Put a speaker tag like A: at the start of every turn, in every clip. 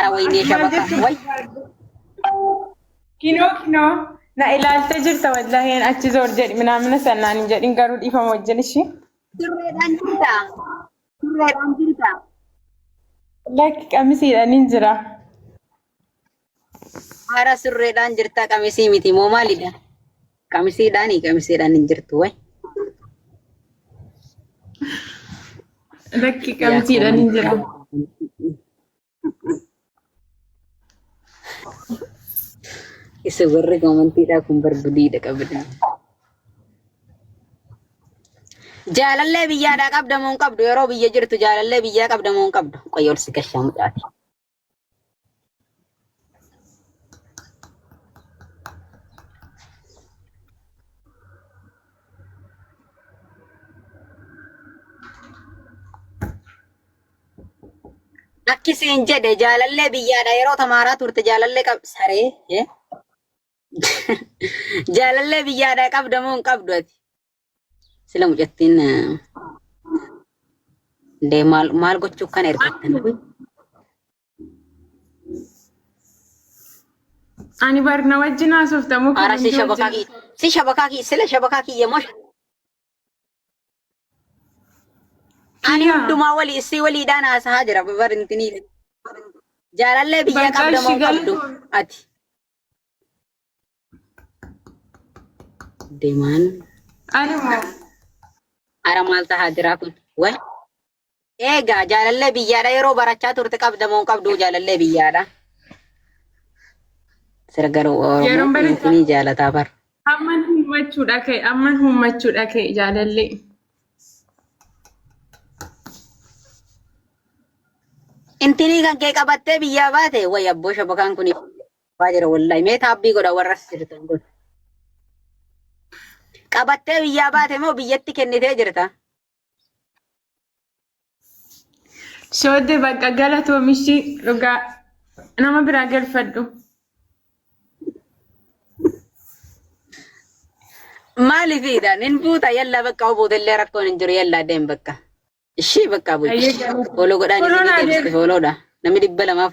A: Yaa waynee shabaka. Way. Kinoo
B: kinoo na ilaaltee jirta wallahi achi zoor jedhi minaamina sannaan hin jedhin garuu dhiifama wajjin ishii. Turreedhaan
A: jirta. Turreedhaan jirta.
B: Lakki qamisiidhaan hin jira.
A: Haara surreedhaan jirta qamisii miti moo maalidha? Qamisiidhaani qamisiidhaan hin jirtu way.
B: Lakki qamisiidhaan hin jira.
A: Isa warri komantiidhaa kun barbadeedha qabdan. Jaalallee biyyaadhaa qabda moo hin qabdu yeroo biyya jirtu jaalallee biyyaa qabda moo hin qabdu qoyyoon si gashaa mucaati. Akki siin jedhe jaalallee biyyaadha yeroo tamaaraa turte jaalallee qab saree eh? jaalallee biyyaadha qabda moo hin qabdu ati sila mucattiin eh, dee maal maal gochuu kana ergattan Uy,
B: Ani barna wajjin haasoftamu ara si shabakaa
A: kiyya si shabakaa kiyya sila shabakaa kiyya moo Ani Siyaa. hundumaa walii isii waliidhaan haasahaa jira babarintiniif. Jaalallee biyya Bakka qabda ishii moo qabdu galatoon. ati. Deemaan Ani moo. ara maal tahaa jira kun? Wal Eegaa jaalallee biyyaadha yeroo barachaa turte qabda moo hin qabduu jaalallee biyyaadha. Sira garuu Yeroon Oromoo barachaa- insinii jaalataa bar. Amman hummachuudha
B: kee amman hummachuudha kee jaalallee.
A: Intinii kan kee qabattee biyyaa baate wayi abboo shabakaan kun waa jira wallahi mee taabbii godha warra as jirtan kun. Qabattee biyyaa baate moo biyyatti kennitee jirta?
B: Soodde bakka galatoomishi dhugaa nama biraa galfadhu.
A: Maaliif hiidhaan hin buuta yalla bakka obuuta illee rakkoon hin jiru yalla deem bakka. Ishii bakka bu'i. Ayyee galata. Fooloo godhaan Fooloo isinii naa deebiste deebi. fooloodha. Namni dhibba lamaaf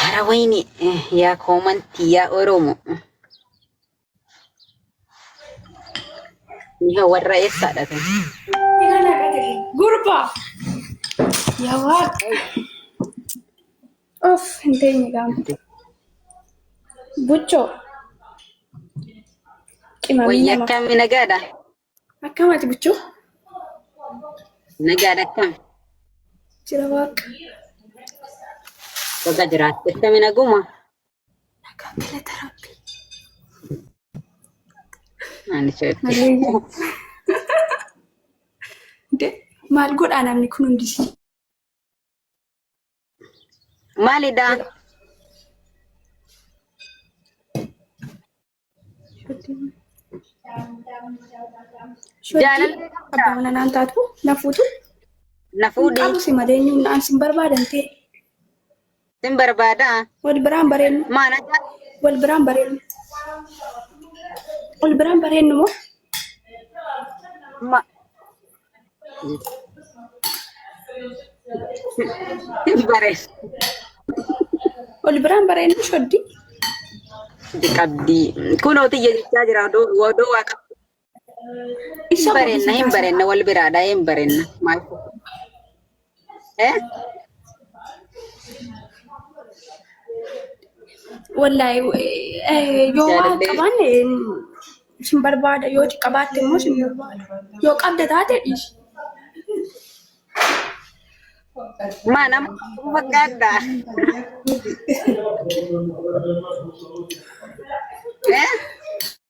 A: Hara wayne yaa koomantii yaa Oromo. Miha warra eessaadha ta'e? Gurba!
C: Yaa waaqa! Of hin teenye gaamte. Buchoo.
A: Qimamii Wayya nama. akkamii nagaadha? Akkam ati
C: buchuu?
A: Nagaan akkam? Jira
C: waaqa.
A: Baga jiraatte akkami naguma? Nagaa
C: galata rabbi.
A: Ani sooti. Haleeyyaa.
C: De maal godhaa namni kun hundi?
A: Maalidha? Jaalallee qabdaa? Abbaa mana naan taatu
C: na fuutu. Na Hin
A: fuudhi. qabu si malee inni naan
C: sin barbaadan ta'e.
A: Sin barbaada. Wal biraan bareennu.
C: Maana jaa-
A: Wal biraan
C: bareennu. Wal biraan bareennu moo?
A: ma- Hin bareedu.
C: Wal biraan bareedni shoddi.
A: Qabdi. Kunoo tiyya jechaa jira odoo odoo waa qabdi. Hin Isa bareenna hin bareenna wal biraadha hin bareenna. Maal Eh?
C: Wallahi eh, yoo waan Jaalallee. qabaanne isin barbaada yoo qabaatte immoo isin barbaada. Yoo qabda taate dhiisi.
A: Maa nama akkuma fakkaadda. Eh?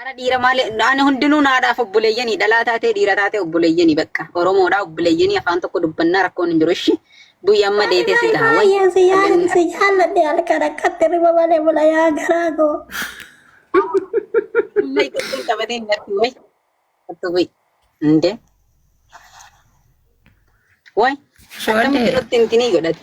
A: Ara dhiira maale ani hundinuu naadhaaf obboleeyyanii dhalaa taatee dhiira taatee obboleeyyanii bakka Oromoodhaa obboleeyyanii afaan tokko dubbannaa rakkoon hin jiru ishi bu'ii amma deetee si gaha way Baay'een si yaalan si jaalladhe
C: halkan akkatti riba malee bula yaa garaa koo. amma
A: ittiin qabatee hin argin way hattu bu'ii inde way akkamitti Shoodee. nutti hin tinii godhate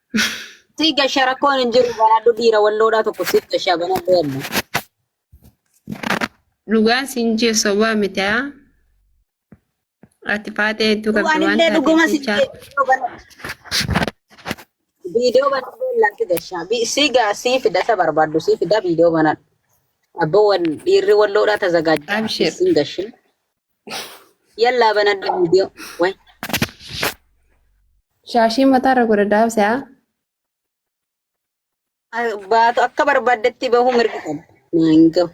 A: Sii gashaa rakkoon hin jiru banaadhu dhiira walloodhaa tokko sii gashaa banaadhu yalla.
D: Dhugaa siin jee sobaa miti haa. Ati faatee hedduu qabdi waan Anillee dhuguma taateef sii jecha.
A: viidiyoo
D: banaadhu.
A: Viidiyoo banaadhu yalla sii gashaa. Bi- Sii gaa sii fida isa barbaaddu sii fida viidiyoo banaadhu. Abboo wal dhiirri walloodhaa tazagaajjaa Abshir. siin gashin. Yallaa banadha viidiyoo. Way.
D: Shaashii mataarra godha daabsa.
A: Baatu akka barbaaddetti bahuu mirga qaba. Naan gahu.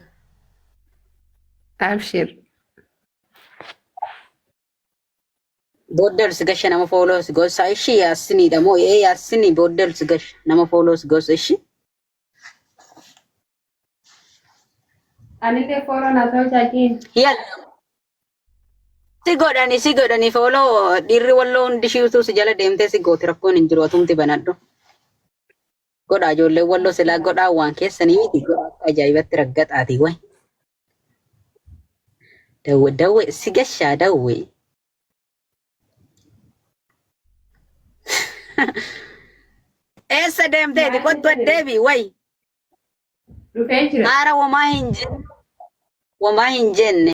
D: Abshir.
A: Booddeels gasha nama fooloos gosa ishii yaasiniidha moo ee yaasinii booddeels gasha nama fooloos gosa ishii.
D: Anillee fooloo naaf ta'uu jaajiin.
A: Yalla. Si godhani si godhani fooloo dhiirri walloo hundi shiituu si jala deemtee si gooti rakkoon hin jiru atumti banadhu. Godhaa ijoollee walloo silaa godhaa waan keessanii miti godhaa akka ajaa'ibatti raggaxaati way. Dawwe dawwe si gashaa dawwe. Eessa deemteeti? Kottu addeebi wayi. Dhufee
D: jira. Haara
A: wamaa hin jenne.
D: Wamaa
A: hin jenne.